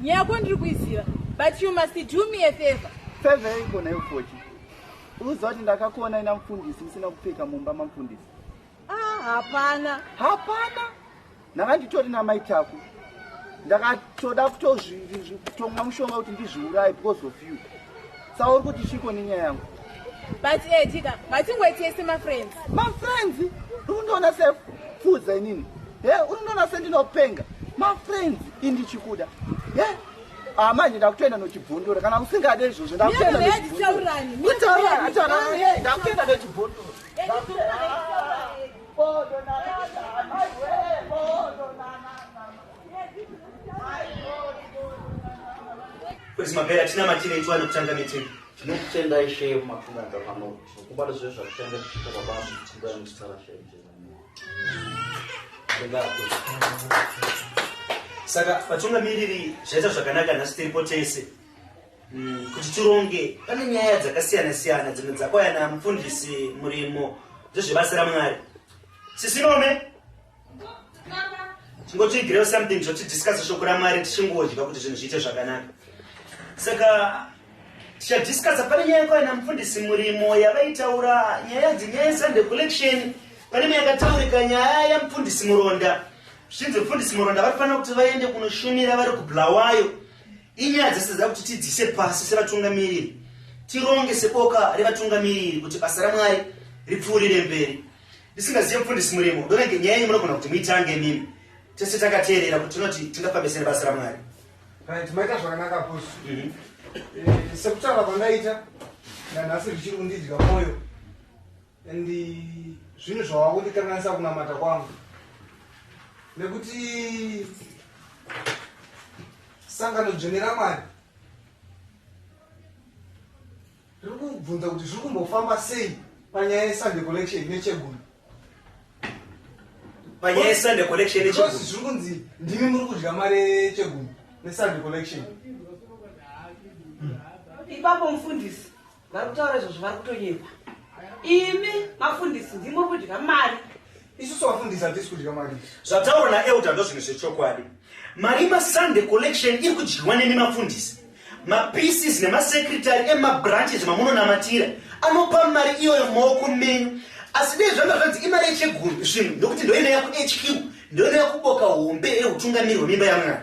nyako ndiri kuiziva but you must do me a favor favor yaikona yofochi uziva kuti ndakakuona ina mufundisi musina kupfeka mumba mamufundisi ah hapana hapana Ndanga nditori namai Taku. Ndakatoda kutotomwa mushonga kuti ndizviuraye because of you. Saka uri kuti chiko nenyaya yangu. But eh Jika, matingwetese ma friends. Ma friends? Unondiona se fuza inini. He, eh, unondiona se ndinopenga. Ma friends indi chikuda. He? Eh, ah manje ndakutoenda nochibvondora kana usingade izvozvo ndakutoenda nochibvondora. Kutaura, kutaura. Ndakutoenda nochibvondora. Kwezi mabera tina matine itu anotanga meeting. Tinokutenda ishe mafunga ngavano. Kubata zve zvakutanga kuchita baba mutsinga musara shenge. Ndingapo. Saka patunga miriri zvaita zvakanaka nhasi tiripo tese. Mm, kuti tironge pane nyaya dzakasiyana siyana dzimwe dzakauya namufundisi murimo dzezvebasa ramwari sisinome tingotiigirewo something zvotidiscasa shoko ramwari tichingodya kuti zvinhu zviite zvakanaka saka tichadiscasa pane nyaya yakauya namufundisi murimo yavaitaura nyaya dzinyaya yesunday collection pane imwe yakataurika nyaya yamufundisi muronda zvichinzi mufundisi muronda vatofanira kuti vaende kunoshumira vari kublawayo Inyaya dzese dzava kuti tidzise pasi sevatungamiriri, tironge seboka revatungamiriri kuti basa raMwari ripfuurire mberi. Ndisingazive mufundisi Murimo, ndona nge nyaya yenyu munogona kuti muitange imimi. Tese takateerera kuti tinoti tingafambisere basa raMwari. Right, maita zvakanaka boss. Mm -hmm. Eh, sekutaura kwandaita nanhasi zvichiri kundidya mwoyo. and zvinhu zvawava kundikanganisa kunamata kwangu nekuti sangano dzvene ramwari riri kubvunza kuti zviri kumbofamba sei panyaya yesunday collection nechegumi panyaya yesunday collection nechegumi zviri kunzi ndimi muri kudya mari yechegumi nesunday collection ipapo mufundisi vari kutaura izvozvo vari kutonyepa imi mafundisi ndimuri kudya mari isusu vafundisi hatisi kudya mari zvataurwa naelda ndozvinhu zvechokwadi mari masunday collection iri kudyiwa nemi mafundisi mapieces nemasecretary emabranches mamunonamatira anopa mari iyoyo maoko menyu asi dei zvanga zvanzi imari yecheguru zvinhu ndokuti ndoinoya kuhq ndoinoya kuboka hombe eutungamiri hwemimba yamwana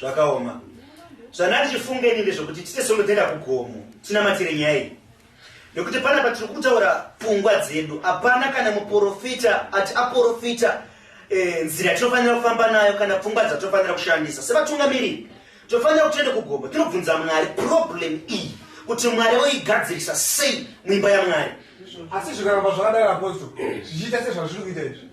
zvakaoma zvanati chifunge ini ndezvekuti tite sondo toenda kugomo tinamatire nyaya iyi nekuti pana patiri kutaura pfungwa dzedu hapana kana muprofita ati aprofita eh, nzira e, tinofanira kufamba nayo kana pfungwa dzatofanira kushandisa sevatungamiriri tofanira kuti tiende kugomo tinobvunza mwari problem iyi kuti mwari oigadzirisa sei muimba yamwari asi zvikaramba zvakadai apostle zvichiita sezvazviri kuita izvi